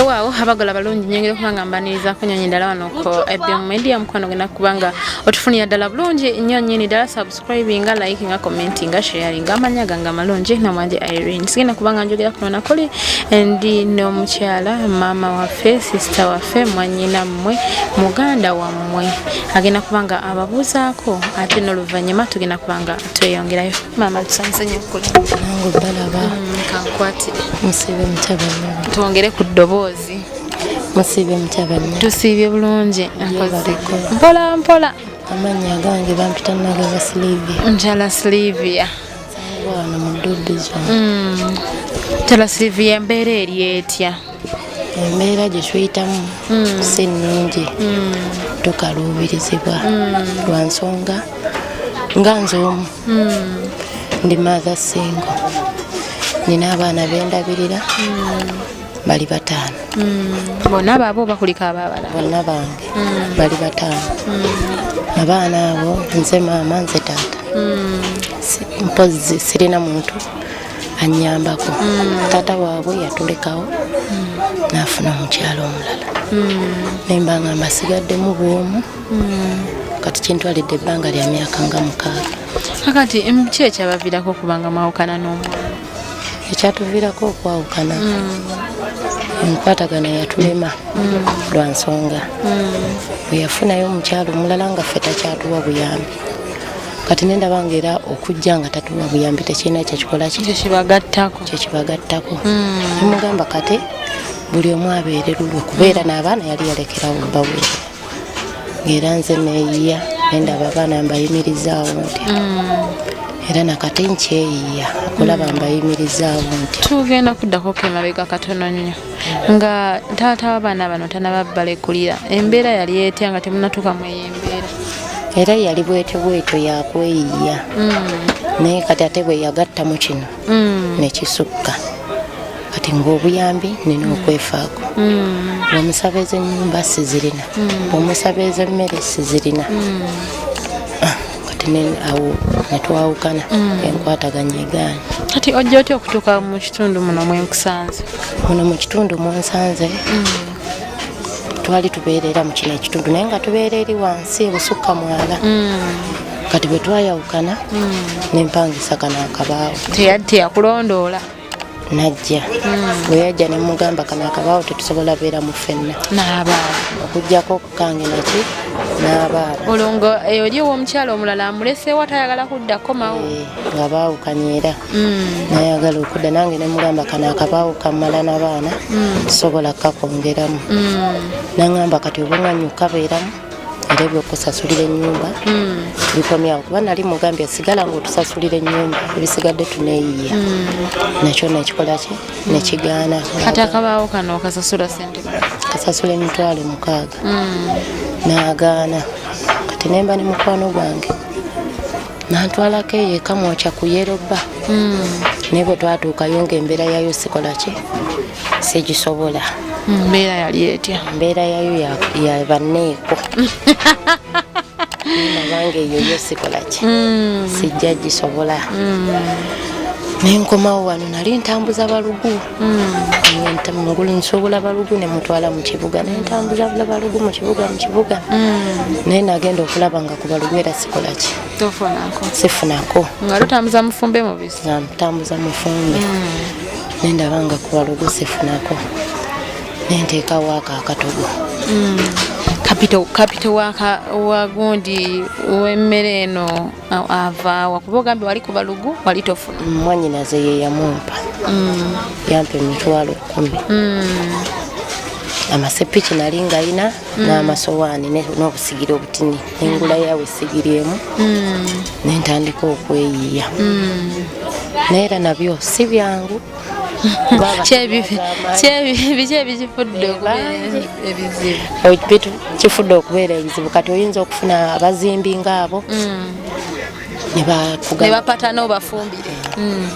waawo abagala balungi nyongera okuba nga mbaniriza kunyonyi ddala wano ku ebm media mukwano gwena kubanga otufunira ddala bulungi nnyo nyini ddala subscribinga likinga commentinga sharinga amanya gange amalungi namwanje irene sigenda kubanga njogera kuno nakuli ndi n'omukyala maama waffe sisita waffe mwanyina mmwe muganda wammwe agenda kubanga ababuuzaako ate n'oluvannyuma tugenda kubanga tweyongerayo maama tusanyuse nyo okulanangu balaba mm, kankwatire musibe mutabani twongere ku ddoboozi musibe mutabani tusiibye bulungi mpola mpola amannya agange bampita nagaba silivia njala silivia wano mu dubizon mm. njala silivia embeera eri etya embeera gye tuyitamu hmm. si nnungi hmm. tukaluubirizibwa hmm. lwa nsonga nga nze omu ndi maatha singo nina abaana bendabirira bali bataano bonna baabo bakulika ababala bonna bange bali bataano abaana abo nze maama nze taata mpozzi sirina muntu anyambako mm. tata waabwe yatulekawo mm. nafuna omukyalo omulala mm. nemba nga mbasigaddemu bwomu mm. kati kintwalidde ebbanga lya myaka nga mukaaga akati ki ekyabaviirako okubanga mwawukana n'omwana ekyatuviirako okwawukana mm. enkwatagana yatulema mm. lwa nsonga mm. bweyafunayo omukyalo omulala nga ffe takyatuwa buyambi kati nendaba nga era okujja nga tatuwa buyambi tekirina kyekikola kyekibagattako kyekibagattako hmm. nemugamba kati buli omu abeere lulwe kubeera n'abaana yali yalekerawo baweere ngaera nze neyiya nendaba abaana mbayimirizaawo nti hmm. era nakati nkyeyiya okulaba mbayimirizaawo nti tugenda kuddako kemabega katono nnyo nga taata w'abaana bano tanababbala ekulira embeera yali etya nga temunatuuka mu eyo embeera era yali bwete bwetyo yakweyiya mm. naye kati ate bwe yagatta mu kino mm. nekisukka kati ngaobuyambi nina mm. okwefaako omusaba ez'enyumba sizirina omusaba ez'emmere sizirina kati awo netwawukana mm. enkwataganya egaana kati ojja otya okutuuka mu kitundu muno mwenkusanze muno mu kitundu munsanze mm. twali tubeerera mu kino ekitundu naye nga tubeera eri wansi ebusukka mwala mm. kati bwe twayawukana mm. nempangisa kano akabaawo teyakulondoola najja bwe yajja ne mugamba kano akabaawo tetusobola beera mu fenna okujjako kange naki n'abaabo olwo nga eyo eri ow'omukyala omulala amuleseewo atayagala kudda komawo eh, nga baawukanye era mm. nayagala okudda nange ne mugamba kano akabaawo kammala n'abaana mm. tusobola kukakwongeramu mm. nangamba kati obunganyukabeeramu era ebyokusasulira enyumba hmm. bikomyawo kuba nali mugambye sigala nga otusasulira enyumba ebisigadde tuneyiye hmm. nakyo nekikolaki nekigaana kati akabaawo kano kasasula sente kasasula emitwalo mukaaga hmm. nagaana kati nemba ne mukwano gwange nantwalako eyo ekamwokya ku yeroba nebwe twatuukayo nga embeera yayo sikolaki sigisobola hmm, mbeera yali etya mbeera yayo yabanneeko abange eyo yo sikola ki hmm. sijja gisobola hmm. nenkomawo wano nali ntambuza balugu mungulu nsobola balugu nemutwala mukibuga nentambuza balugu mukibuga mukibuga naye nagenda okulaba nga ku balugu era sikola ki sifunako nga lutambuza mufumbe mubisi nga mutambuza mufumbe nendaba nga kuwalugu sifunako nenteekawo ako akatogo mm. kapito wagundi wemmere eno avaawa kuba ogambye wali ku balugu wali tofuna mm, mwanyinaze yeyamumpa mm. yampa emitwalo kumi amasepiki nali ngalina n'amasowaani n'obusigire obutini engula yawe sigiri emu mm. nentandika okweyiya mm. naye era nabyo si byangu kifudde okubeera ebizibu kati oyinza okufuna abazimbi ngaabo mm. nebapatana obafumbire mm.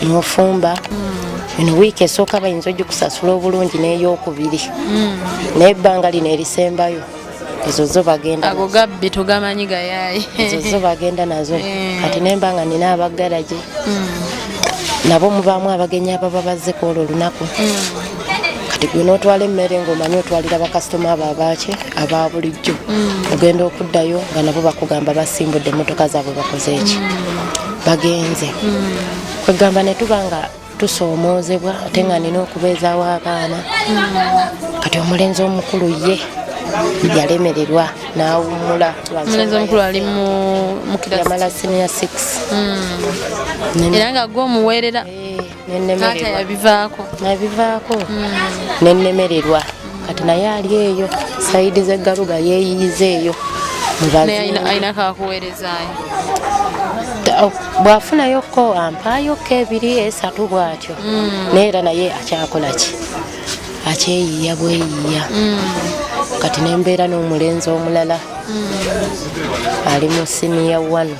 nofumba mm. eno wiiki esooka bayinza ogikusasula obulungi neyokubiri naye ebbanga lino erisembayo ezo zo bagenda ago gabbi tugamanyi gayaye ezo zo bagenda nazo eh. kati nemba nga nina abagaraje hmm. nabo mubamu abagenyi ababa bazze kwolwo olunaku hmm. kati gwe notwala emmere ngaomanyi otwalira bakasitoma abo abaki aba bulijjo hmm. ogenda okuddayo nga nabo bakugamba basimbudde emotoka zaabwe bakoze eki bagenze kwegamba netuba nga tusoomoozebwa ate nga nina okubeezaawo abaana kati omulenzi omukulu ye yalemererwa nawumula yamala senior six hmm. era nga gwe omuweerera eh, nabivaako hmm. nenemererwa kati naye ali eyo saidi zegaruga yeyiyiza eyo bwafunayoko ampayoko ebiri esatu bwatyo mm. naye era naye akyakolaki akyeyiya bweyiya mm. kati nembeera n'omulenzi omulala mm. ali mu siniya wano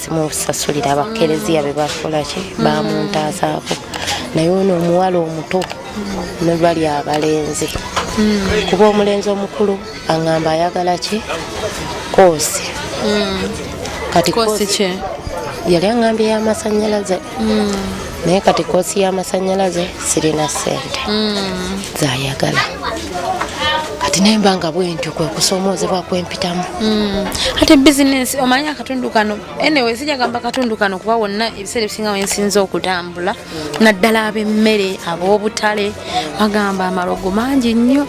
simusasulira abakereziya be bakolaki mm. bamuntaasaako naye ono omuwala omuto nebali abalenzi mm. kuba omulenzi omukulu aŋamba ayagala ki koosi mm. kati yali aŋambye yamasanyalaze naye kati koosi y'amasanyalaze sirina sente mm. zayagala kati naye mba nga bwentyo kwe kusoomoozebwa kwempitamu mm. ate bizinensi omanyi akatundu kano anyway sija gamba akatundu kano kuba wonna ebiseera ebisinga wensinza okutambula naddala ab'emmere ab'obutale bagamba amalogo mangi nnyo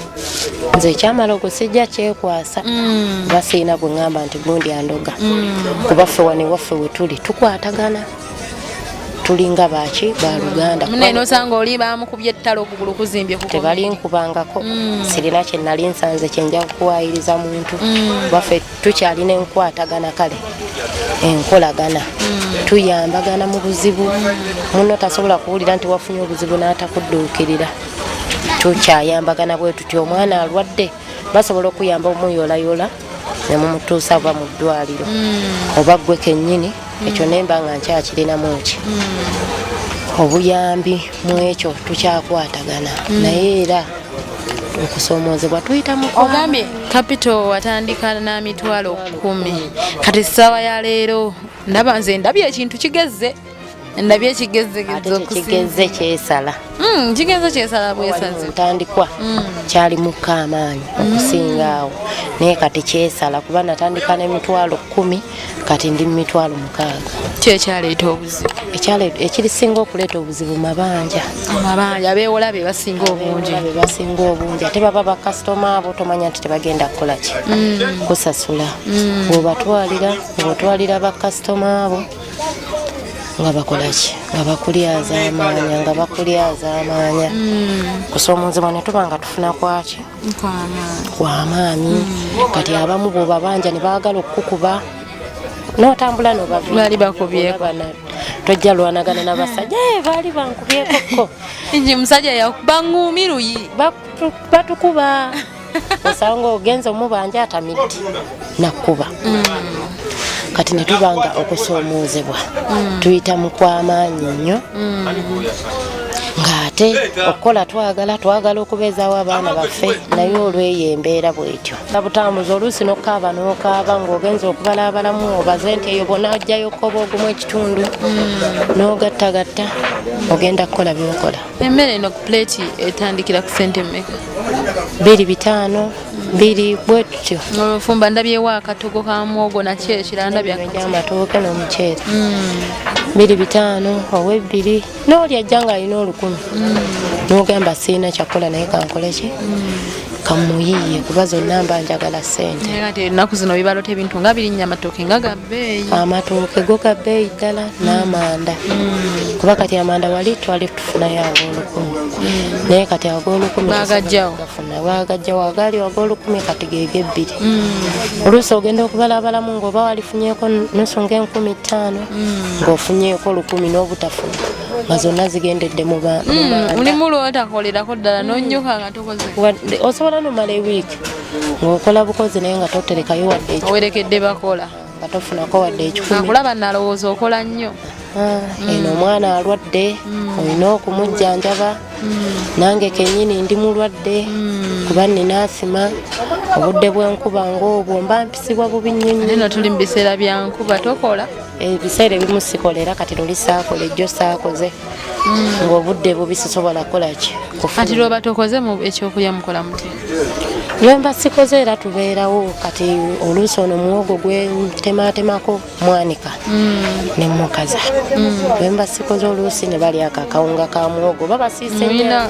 nze ekyamalogo sijja kyekwasa mm. basiina gwe ŋŋamba nti gundi andoga kuba ffe wano ewaffe wetuli tukwatagana tulinga baki baluganda munenosanga oli bamukubye ettalo okugulu kuzimbye tebalinkubangako mm. sirina kyenali nsanze kyenja kuwayiriza muntu mm. baffe tukyalina enkwatagana kale enkolagana mm. tuyambagana mu buzibu muno tasobola kuwulira nti wafunye obuzibu n'atakudduukirira tukyayambagana bwe tuti omwana alwadde basobola okuyamba omuyolayola ne mumutuusa ava mu ddwaliro hmm. oba ggwe kennyini hmm. ekyo ne mba nga nkyakirinamu ki hmm. obuyambi mu ekyo tukyakwatagana naye era okusoomoozebwa tuyita muogambye kapito watandika na mitwalo kumi kati ssaawa ya leero ndaba nze ndabye ekintu kigezze ndabye ekigezegeza okukigeze kyesala mm, kigeze kyesala bwesaze ntandikwa mm. kyali mukka amaanyi mm. okusinga awo naye kati kyesala kuba natandika n'emitwalo kkumi kati ndi mu mitwalo mukaaga kyekyaleeta obuzibu ekirisinga okuleeta obuzibu mabanja amabanja abeewola be basinga obungi be basinga obungi ate baba bakasitoma abo tomanya nti tebagenda kukola ki kusasula bwebatwalira bwebatwalira bakasitoma abo nga bakolaki nga bakulyaza amaanya nga bakulyaza amaanya mm. kusoomozebwa ne tuba nga tufuna kwaki kwamaanyi mm. kati abamu bwobabanja ne baagala okukukuba notambula nobabali bakubyebana tojja lwanagana nabasajja eh, baali bankubyekokko nji musajja yakuba ngumi luyi batukuba osanga nga ogenze omubanja atamidde nakkuba mm. kati ne tubanga okusoomoozebwa mm. tuyita mu kw'amaanyi nnyo mm. ng'ate okukola twagala twagala okubeezaawo abaana baffe naye olweyo embeera bwetyo abutambuza oluusi nokukaaba nokaaba ng'ogenza okubalaabalamu obaze nti eyo bona ajjayo okukoba ogumu ekitundu n'ogattagatta ogenda kukola byokola emmere eno ku plate etandikira ku sente mmeka biri bitaano biri bwe tutyo nfumba ndabyewo akatogo ka mwogo nakyo ekirala ndabye amatooke n'omuceere hmm. biri bitaano oba ebbiri n'oli ajja ng'alina olukumi hmm. n'ogamba sirina kyakkola naye kankoleki hmm. kamuyiye kuba zonna mba njagala sente ennaku zino bibalota ebintu nga birinnya amatooke nga gabbeeyi amatooke go gabbeeyi ddala n'amanda mm. kuba kati amanda wali twali tufunayo ag'olukumi mm. naye kati ag'olukumi bagajjawogafuna bagajjawo agaali ag'olukumi kati geega ebbiri mm. oluusi ogenda okubalabalamu ng'oba walifunyeko nusu ng'enkumi ttaano ng'ofunyeko olukumi n'obutafuna nga zonna zigendedde mu baa mulimu lwotakolerako ddala nonyuka osobola nomala ewiiki ngaokola bukozi naye nga toterekayo wadde ekiwerekedde bakola nga tofunako wadde ekikukulaba nalowooza okola nnyo ah, mm. eno omwana alwadde mm. olina okumujjanjaba mm. nange kenyini ndi mulwadde kuba nina asima obudde bwenkuba ngaobwo mba mpisibwa bubi nyonyino tuli mubiseera byankuba tokola ebiseera ebimu sikolera kati luli saakola ejjo saakoze mm. ngaobudde bubi sisobola kukolaki kati lwoba tokoze ekyokulya mukola muti lwemba sikoze era tubeerawo kati oluusi ono muwogo gwentematemako mwanika mm. nemukaza mm. lwemba sikoze oluusi nebalyako akawunga ka muwogo babasiisemulina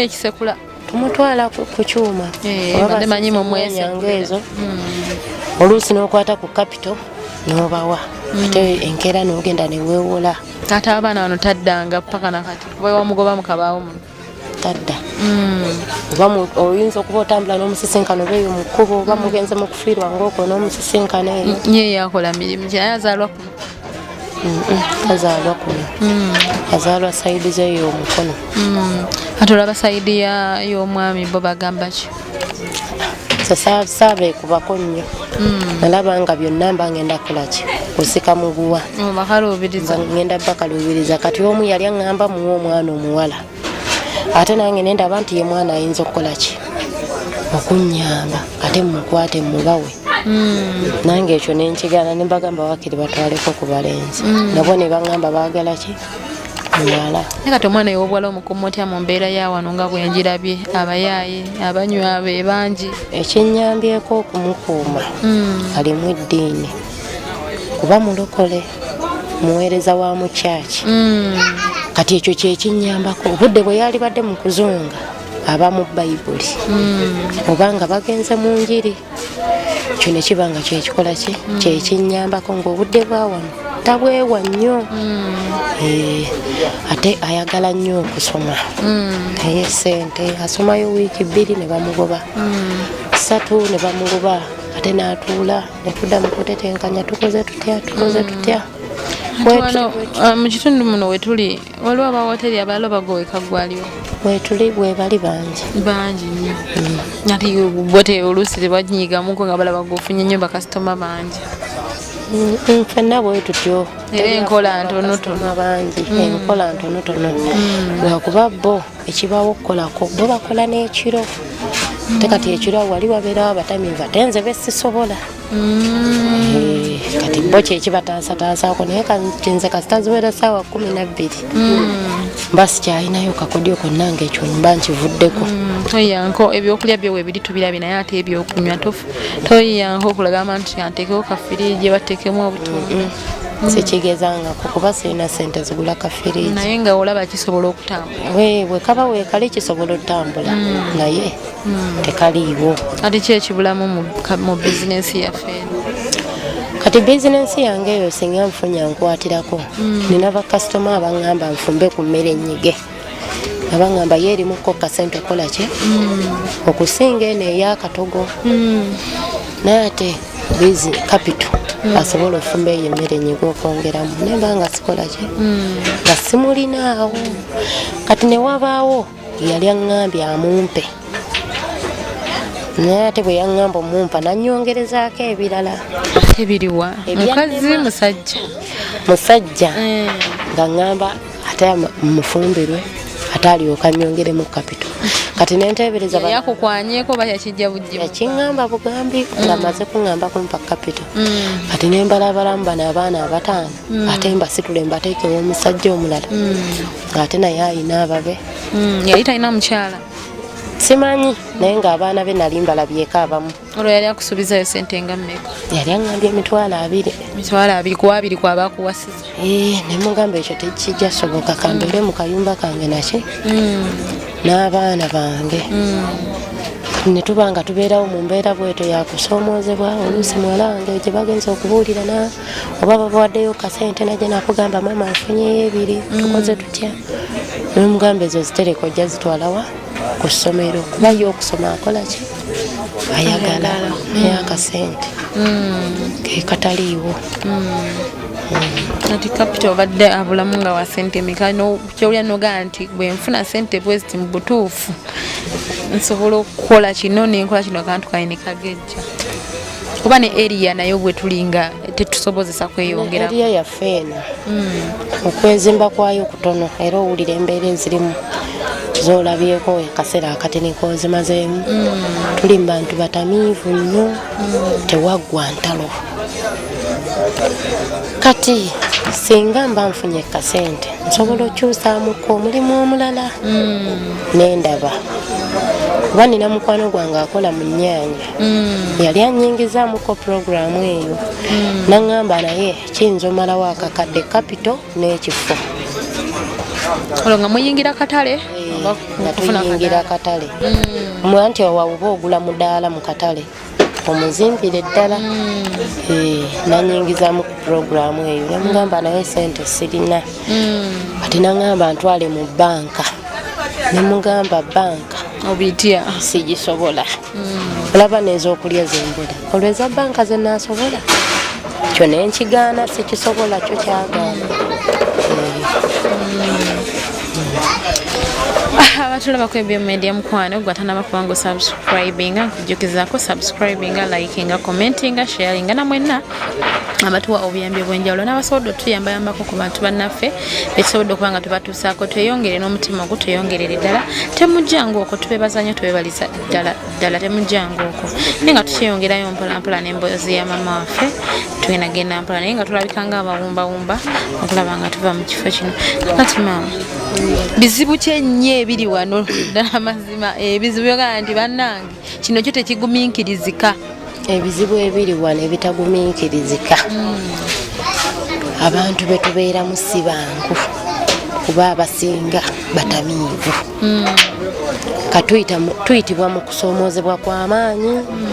ekisekula tumutwala ku kyuma eh, manyi mumwenyanga ezo hmm. oluusi n'okwata ku kapito n'obawa hmm. ate enkeera n'ogenda neweewola taata abaana bano taddanga paka nakati wewamugoba mukabaawo muno tadda hmm. oyinza okuba otambula n'omusisinkano beeyo mu kkubo oba mugenze mu kufiirwa ngaoko n'omusisinkano eyo nyeyo yakola mirimu kyaye azaalwa kazaalwa kuno hmm. azaalwa sayidi ze yomukono hmm. ate olaba sayidi y'omwami bo bagamba ki sabeekubako nnyo hmm. alaba nga byonna mba ngenda kulaki osika muguwa ngenda bakaluubiriza kati omu yali aŋŋamba muwa omwana omuwala ate nange nendaba nti ye mwana ayinza okukola ki okunyamba ate mukwate mubawe hmm. nange ekyo nenkigana nembagamba wakiri batwaleko ku balenzi hmm. nabo nebagamba bagala ki muwala naye kati omwana yowobuwala omukumu otya mu mbeera ya wano nga bwenjirabye abayaaye abanywa be bangi ekinyambyeko okumukuuma hmm. alimu eddiini kuba mulokole muweereza wa mu kyaki mm. kati ekyo kyekinyambako obudde bwe yalibadde mu kuzunga aba mu bayibuli mm. oba nga bagenze mu njiri ekyo ne kiba nga kyekikola ki mm. kyekinyambako ngaobudde bwawano tabwewa nnyo eh, ate ayagala nnyo okusoma naye sente asomayo wiiki bbiri ne bamugoba satu ne bamugoba ate n'atuula Okuda mu kutetenkanya tukoze tutya tukoze mm. tutya wano uh, mu kitundu muno wetuli waliwo abawoteri abalala bagoweka gwaliwo wetuli bwebali bangi bangi nyo mm. ati bote oluusi tebanyigamuko nga balaba gofunye nyo bakasitoma bangi ffenna bwe tutyo era enkola ntonotono bangi enkola ntonotono lwakuba bo ekibaawo okukolako bo bakola n'ekiro te kati ekiro wali wabeerawo abatamiivu ate nze besisobola mm. eh, kati bo kyekibataasataasaako naye kinze kasita ziwera saawa kumi nabbiri mm. mba sikyalinayo kakodyo konna nga ekyo mba nkivuddeko mm. toyiyanko ebyokulya byowe biri tubirabye naye ate ebyokunywa toyiyanko okulagamba nti anteekeko kafiriigi bateekemu obutunda sikigezangako kuba sirina sente zigula kafiriji naye nga olaba kisobola okutambula wewe kaba wekale kisobola otambula hmm. naye hmm. tekaliiwo ati ki ekibulamu mu bizinensi yaffe kati bizinensi yange eyo singa nfunya nkwatirako hmm. nina bakasitoma abangamba nfumbe ku mmere enyige abangamba ye erimu ko kasente kola ki mm. okusinga eno eyakatogo mm. naye ate bizi kapito mm. asobola ofumba eyo emmere nyiga okwongeramu naye banga sikola ki nga simulinaawo kati newabaawo yali aŋambye amumpe naye ate bwe yaŋŋamba omumpa nanyongerezaako ebirala ebiriwa mukazi musajja musajja eh. nga ŋŋamba ate mufumbirwe ate alyoka nyongeremu kapito kati nentebereza yakukwanyeko oba yakijja bujja yakiŋamba bugambi mm. nga maze kuŋamba kumpa kapito mm. kati nembalabalamu bano abaana abataano mm. ate mbasitule mbateekewo omusajja omulala ngaate naye ayina ababe yali talina mukyala simanyi naye ng'abaana be nali mbalabyeko abamu olwo yali akusuubizayo sente nga mmeka yali aŋambye emitwalo abiri mitwalo abiri ku abiri kwaba akuwasiza eh, ne mugamba ekyo tekijja soboka kambeere mu kayumba kange naki hmm. n'abaana bange hmm. ne tuba nga tubeerawo mu mbeera bwetyo yakusoomoozebwa oluusi muwala wange gye bagenza okubuulira na oba babawaddeyo kasente naje nakugamba maama nfunyeyo ebiri hmm. tukoze tutya nomugamba ezo zitereka ojja zitwalawa ku ssomero kuba ye okusoma akola ki ayagala naye mm. akasente mm. ke kataliiwo kati mm. kapita obadde abulamu nga wa sente meka kyowulira nogaa nti bwenfuna sente bweziti mu butuufu nsobola okukola kino nenkola kino kantu kaine kagezi atya kuba ne eriya naye obwe tulinga tetusobozesa kweyongera eriya yaffe eno hmm. okwezimba kwayo kutono era owulira embeera ezirimu zolabyeko akaseera akatini kozimazeemu hmm. tuli mubantu batamiivu nnyo hmm. tewaggwa ntalo kati singa mba nfunye kasente nsobola okyusamuko omulimu omulala mm. nendaba kuba nina mukwano gwange akola mu nyanya mm. yali anyingizamuko puroguramu eyo mm. naŋamba naye kiyinza omalawo akakadde kapito n'ekifo olwo nga muyingira katale eh, nga tuyingira katale mwanti owawuba ogula mudaala mu katale omuzimbire ddala mm. eh, nanyingizamu ku puroguramu eyo namugamba naye sente sirina mm. ati nangamba ntwale mu banka nemugamba banka obitya sigisobola mm. olaba nezokulya zembula olweza banka zenasobola kyo nenkigaana sikisobola kyo kyagaana abatulaba kwebyo media mukwano gwatanaba kubanga osubscribinga jukizako subscribinga likinga commentinga sharinga na mwenna abatuwa obuyambi obwenjawulo n'abasobodde otuyambayambako ku bantu bannaffe bekisobodde okuba nga tubatuusaako tweyongere n'omutima ogu tweyongerere ddala temujjangu okwo tubebaza nyo tubebaliza ddala ddala temujjangu okwo naye nga tukyeyongerayo mpolampola n'emboozi ya mama waffe tugenda genda mpola naye nga tulabika nga abawumbawumba okulaba nga tuva mu kifo kino kati maama bizibu kyenyee biri wano ddala mazima ebizibu eh, byogana nti bannange kino kyo tekiguminkirizika ebizibu ebiri wano ebitaguminkirizika hmm. abantu betubeeramu si bangu kuba abasinga batamiivu hmm. katuyitibwa mu kusoomoozebwa kw'amaanyi hmm.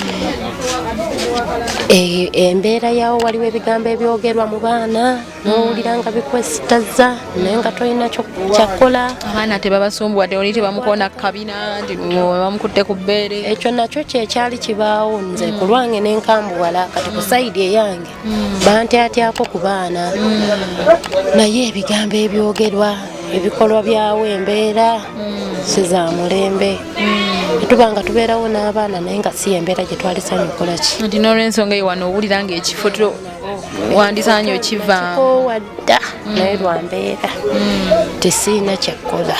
eh, embeera yawo waliwo ebigambo ebyogerwa mu baana nowulira nga bikwesitaza naye nga tolina kyakkola abaana tebabasumbuwa teoli tebamukoona kukabina nti bamukutte ku bbeere ekyo nakyo kyekyali kibaawo nze mm. ku lwange nenkambuwala kati ku sayidi eyange mm. bantyatyako ku baana mm. naye ebigambo ebyogerwa ebikolwa byawo embeera sizamulembe tuba nga tubeerawo n'abaana naye nga si embeera gyetwali sanyukolaki nti nolwensonga eyo wano owulira ngaekifo wandisaanye okivaamukowa dda naye lwambeera mm. tesiina kyakkola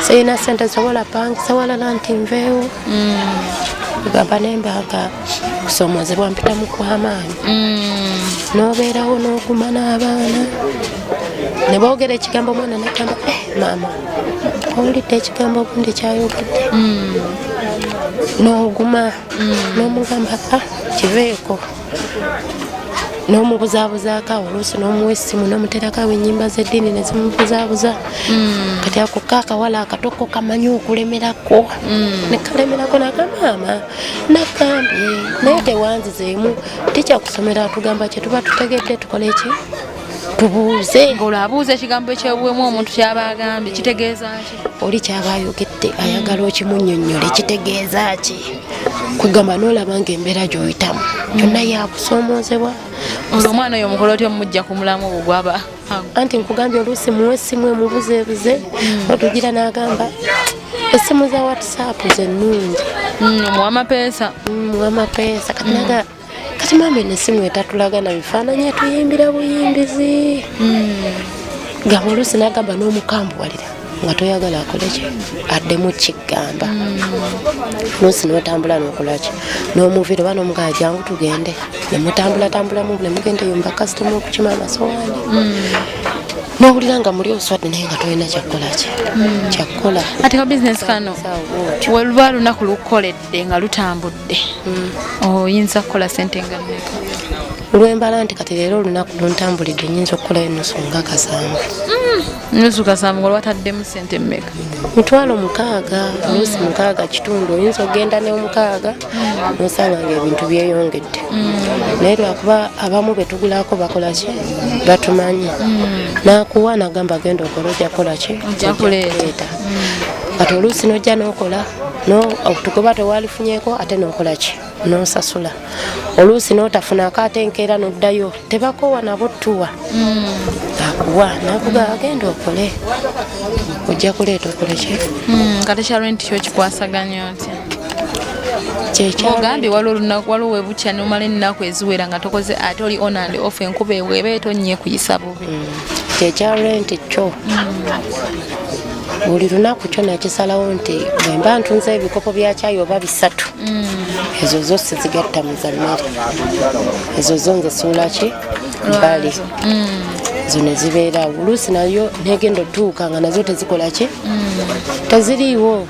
siina sente sobola pangisa walala nti nveewo mm. gamba nembaga kusomozebwa mpita mukwamaanyi mm. nobeerawo noguma n'abaana nebogera ekigambo omwana nagamba eh, maama owulidde ekigambo obundi kyayogedde noguma mm. nomugamba ka kiveeko n'omubuzabuzaako awo oluusi n'omuwa essimu n'omuterako awo ennyimba z'eddiini ne zimubuzabuza hmm. kati ako ka akawala akatoko kamanyi okulemerako hmm. ne kalemerako nakamaama nagambye naye tewanzizeemu tikyakusomera atugamba kye tuba tutegedde tukole ki tubuuze ng'olwo abuuza ekigambo ekyobuwemu omuntu kyaba agambye kitegeeza ki oli kyaba ayogedde ayagala okimunyonyola ekitegeeza ki kwegamba nolaba nga embeera gyoyitamu yonna yakusoomozebwa nga omwana oyo omukolo otya omumujja ku mulamu ogwo gwaba anti nkugambye oluusi muwe essimu emubuzeebuze hmm. otugira n'agamba essimu za whatsapp zennungi hmm, muwamapeesa hmm, muwamapeesa katinaga kati maama eno esimu etatulaga na bifaananyi etuyimbira buyimbizi hmm. gaba oluusi nagamba n'omukambuwalira nga toyagala akoleki addemu kigamba hmm. luusi notambula nokolaki nomuvira oba nomugaa jangu tugende nemutambulatambulamu nemugenda eyo mubakasitoma okukima amasowaani hmm. nowulira nga muli oswadde naye nga tolina kyakkolaki hmm. kyakkola ate ka bizinesi kano weluba lunaku lukukoledde lutambudde nga lutambudde mm. oyinza okukola sente nga mmeka lwembala nti kati leero olunaku luntambulidde nyinza okukola enusu nga kasanvu mm. nusu kasanvu nga lwataddemu sente mmeka mitwalo mukaaga nusu mukaaga kitundu oyinza okugenda neomukaaga mm. nosanga nga ebintu byeyongedde naye lwakuba abamu betugulako bakolaki batumanyi nakuwa nagamba genda okora ojakolaki ojakuleeta kati oluusi nojja nokola tukuba tewalifunyeko ate nokolaki nosasula oluusi notafunako ate enkeera noddayo tebakowa nabo tuwa mm. akuwa nakuga agenda okole ojja kuleeta okoleki mm, nga tekyalwe nti kyokikwasaganya otya kyekyogambi wali olunaku waliwo webukya nomala ennaku eziwera nga tokoze ate oli onand off enkuba eweba etonnye kuyisabo kyekya renti kyo buli lunaku kyo nakisalawo nti bwemba ntunze ebikopo bya kyayi oba bisatu mm. ezo zo sizigatta mu za mmere ezo zo nzisuula ki mbali mm. ezo ne zibeera oluusi nayo negenda otuuka nga nazo tezikola ki mm. teziriiwo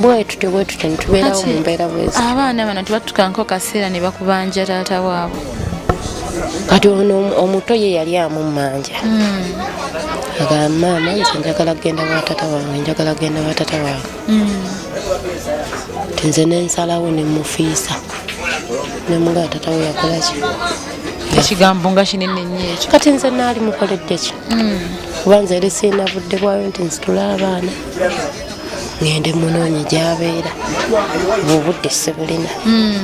bwetutyo bwetutyo nitubeerawo mu mbeera bwezi abaana bano tebatukanko kaseera ne bakubanja taata waabwe kati ono omuto ye yali amummanja hmm. agamba maama nze njagala kugenda watata wange njagala kugenda watata wange hmm. tinze nensalawo nemufiisa nemuga tata we yakolaki ekigambo nga kinene nyo ekyo kati nze naali mukoleddeki hmm. kuba nze eri siina budde bwayo nti nzitula abaana ngende munoonye gyabeera obudde sibulina hmm.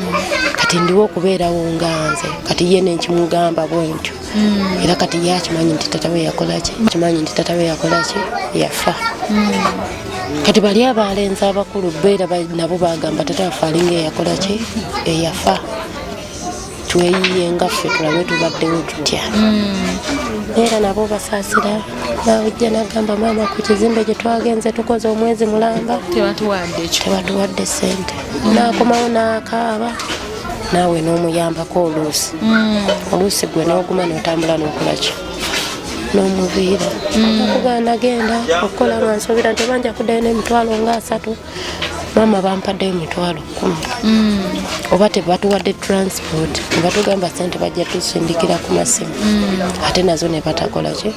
kati ndiwo okubeerawo nga nze kati ye nenkimugamba bwentyo hmm. era kati ye akimanyi nti tatawe yakolaki akimanyi nti tatawe yakolaki yafa hmm. kati bali abaalenzi abakulu beera nabo bagamba tata wafe alinga eyakolaki eyafa tweyiye nga ffe tulabe tubaddewo tutya hmm. era nabo basaasira nawujja nagamba maama ku kizimbe gye twagenze tukoze omwezi mulamba tebatuwadde sente hmm. nakomawo nakaaba naawe n'omuyambako oluusi hmm. oluusi gwe noguma notambula nokulaki nomuviira okugaa nagenda okukola nga nsobira ntebanja kuddayo nemitwalo nga asatu maama bampaddeyo mitwalo kumi mm. oba tebatuwadde transport nebatugamba sente bajja tusindikira ku masimu mm. ate nazo nebatakola ki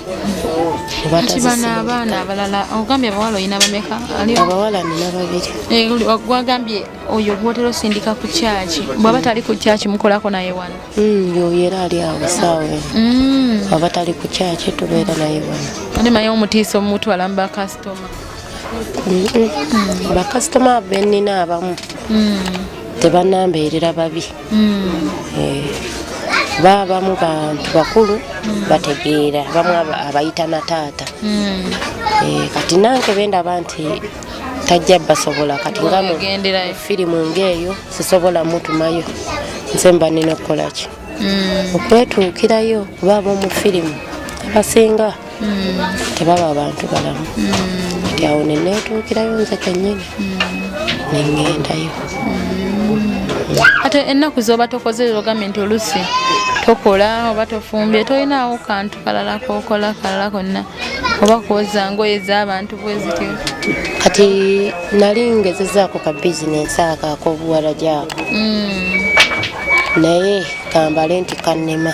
abaana abalala ogambye abawala olina bameka abawala nina babiri eh, gwagambye oyo gwotera osindika ku kyaki bwaba tali ku kyaki mukolako naye wano mm, yoyo era ali awo saawe aba tali ku kyaki tubeera naye wano ate maye omutiisa omumutwala mubakasitoma bakasitoma benina abamu mm. tebanambeerera babi mm. eh, babamu bantu bakulu mm. bategeera bamu abayita na taata eh, kati nange bendaba nti tajja basobola kati nga mu firimu ngaeyo sisobola mutumayo nze mba nina okukolaki okwetuukirayo kuba ab'omu firimu abasinga tebaba abantu balamu kati awo neneetuukirayo nze kenyini neŋŋendayo ate ennaku zoba tokoze ogambye nti olusi tokola oba tofumbye tolinaawo kantu kalala kokola kalala konna oba kwoza ngoye z'abantu bwezityo kati nali ngezezaako ka bizinensi ako akobuwala gyako mm. naye kambale nti kannema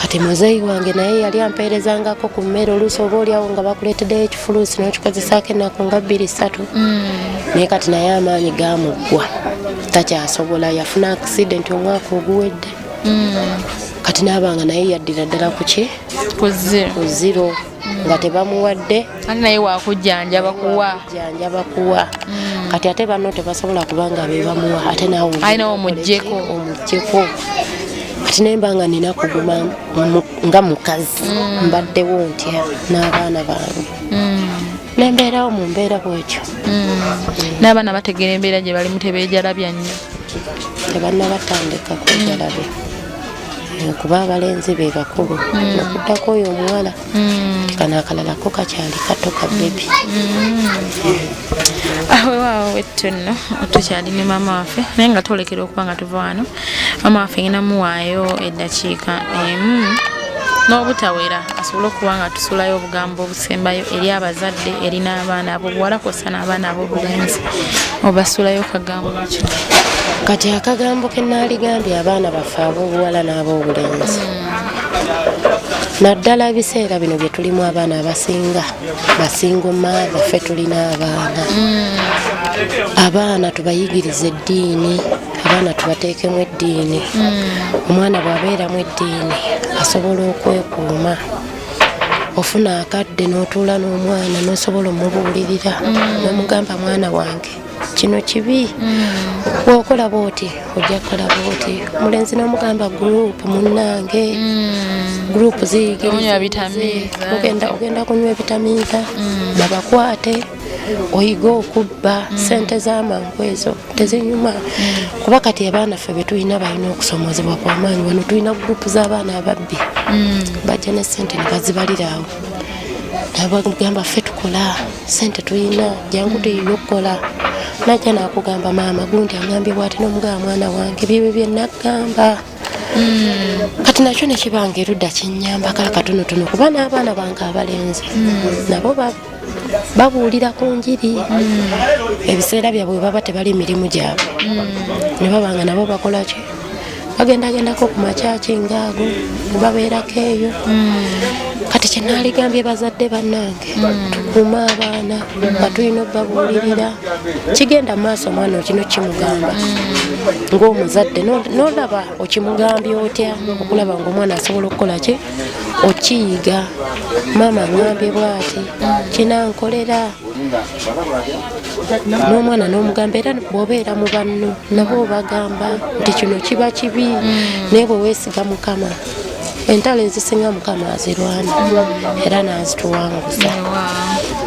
kati muzeeyi wange naye yali ampeerezangako ku mmere oluusi oba oliawo nga bakuleeteddeyo ekifuluusi n'okikozesaako ennaku nga bbiri ssatu mm. naye kati naye amaanyi gamuggwa takyasobola yafuna accident omwaka oguwedde mm. kati naabanga naye yaddira ddala kuki ku ziro nga tebamuwadde ate naye wakujjanjaba kuwa jjanjaba kuwa mm. kati ate banno tebasobola kuba nga be bamuwa ate nawe alina omuggyeko omuggyeko kati naye mba nga nina kuguma nga mukazi mm. mbaddewo ntya n'abaana bange mm. nembeerawo mu mbeera bwekyo n'abaana bategeera embeera gye balimu tebeejalabya nnyo tebanna batandika kwejalabya kuba abalenzi be bakulu mm. okuddako oyo omuwala mm. kano akalala ko kakyali kato ka bebi mm. ah, wewaawo wettu nno tukyali ne maama waffe naye nga twolekera okuba nga tuva wano maama waffe nginamuwaayo eddakiika emu n'obutawera asobole okuba nga tusulayo obugambo sembayo eri abazadde eri n'abaana abobuwala kwosa n'abaana abobulenzi obasulayo kagambo ki kati akagambo ke naaligambye abaana baffe abobuwala n'abobulenzi hmm. naddala ebiseera bino bye tulimu abaana abasinga basingoma baffe tulina abaana hmm. abaana tubayigiriza eddiini abaana tubateekemu eddiini hmm. omwana bw'abeeramu eddiini asobola okwekuuma ofuna akadde n'otuula n'omwana n'osobola omubuulirira mm. nomugamba mwana wange kino kibi mm. wokola bwoti ojja kukola bwoti omulenzi nomugamba gurupu munange mm. gurupu ziyigiriza ogenda kunywa ebitamiiza babakwate oyiga okubba mm. sente zamangu ezo tezinyuma mm. kuba kati abaana ffe betulina balina okusomozebwa kwamaanyi wano tulina gurupu z'abaana ababbi mm. bajja ne sente nebazibaliraawo nabagamba ffe tukola sente tulina jangu tuyiga okukola najja nakugamba maama gundi angambye bwati nomugaba mwana wange byebyo byenagamba kati nakyo nekibanga erudda kinyamba kala katonotono kuba n'abaana bange abalenzi nabo baba babuulira ku njiri hmm. ebiseera byabwe baba tebali mirimu gyabwe hmm. ne baba nga nabo bakolaki bagendagendako ku makyaki ngaago babeerako eyo hmm. kati kyenaligambye bazadde bannange tukuume abaana nga tulina obabuulirira kigenda maaso omwana okino kimugamba ngaomuzadde nolaba okimugambye otya okulaba ngaomwana asobola okukola ki okiyiga maama ngambye bwati kinankolera n'omwana n'omugamba era bwobeera mu banno nabo obagamba nti kino kiba kibi mm. naye bweweesiga mukama entalo ezisinga mukama azirwana era nazituwanguza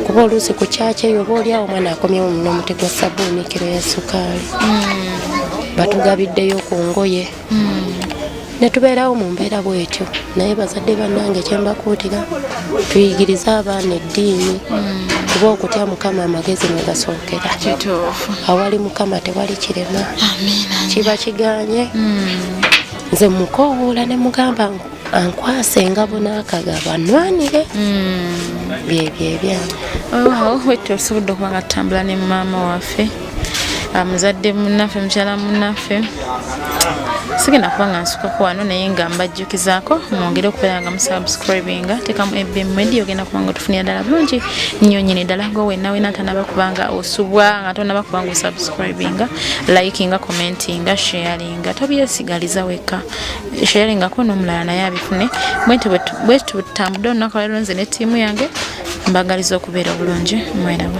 kuba oluusi ku kyakyo eyo oba oliawo omwana akomyewo munomuti gwa sabuuni kiro ya sukaali mm. batugabiddeyo ku ngoye netubeerawo mu mbeera bwetyo naye bazadde bannange kyembakuutira tuyigirize abaana eddiini kuba okutya mukama amagezi mwegasookera awali mukama tewali kirema kiba kiganye hmm. nze mukowoola ne mugamba ankwasa engabo n'akagabo anwanire hmm. byebyo ebyange olwawo wettu osobodde okuba nga tutambula ne maama waffe muzadde munaffe mukyala munaffe sigenda kuba nga nsukako wano naye nga mbajjukizaako mwongere okubeera nga musubscribinga tekamu ebm media ogenda kuba nga otufunira ddala bulungi nnyo nyini ddala nga owenawe natanaba kuba nga osubwa nga tonaba kuba nga osubscribinga likinga commentinga sharinga tobyesigaliza wekka sharingako n'omulala naye abifune bwenti bwetutambudde olunaku lwalero nze ne ttiimu yange mbagaliza okubeera obulungi mweraba